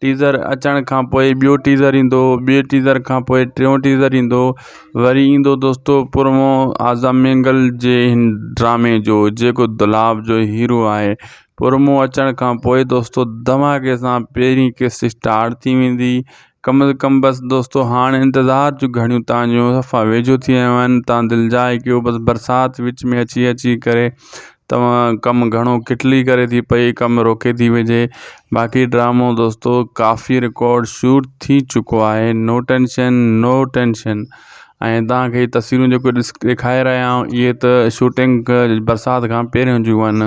teaser اچڻ کان پوء ٻيو ٽيزر ايندو ٻي ٽيزر کان پوء ٽيون ٽيزر ايندو وري ايندو دوستو پرمو اعظم مينگل جي هن ڊرامي جو جيڪو دولاب جو هيرو آهي پرمو اچڻ کان پوء دوستو دھماڪي سان پهرين قسط اسٽارٽ ٿي ويندي ڪم از ڪم بس دوستو هاڻ انتظار جون گھڙيون تنهنجون صفا ويجهو ٿي آيون آهن تان دلجاء ڪيو بس برسات وچ ۾ اچي اچي ڪري توهان ڪم گهڻو ڪٽلي ڪري ٿي پئي ڪم روڪي ٿي وجهي باقي ڊرامو دوستو ڪافي رڪارڊ شوٽ ٿي چڪو آهي نو ٽينشن نو ٽينشن ۽ توهان کي تصويرون جيڪو ڏس ڏيکاري رهيا آهيون اهي ته شوٽنگ برسات کان پهريون جون آهن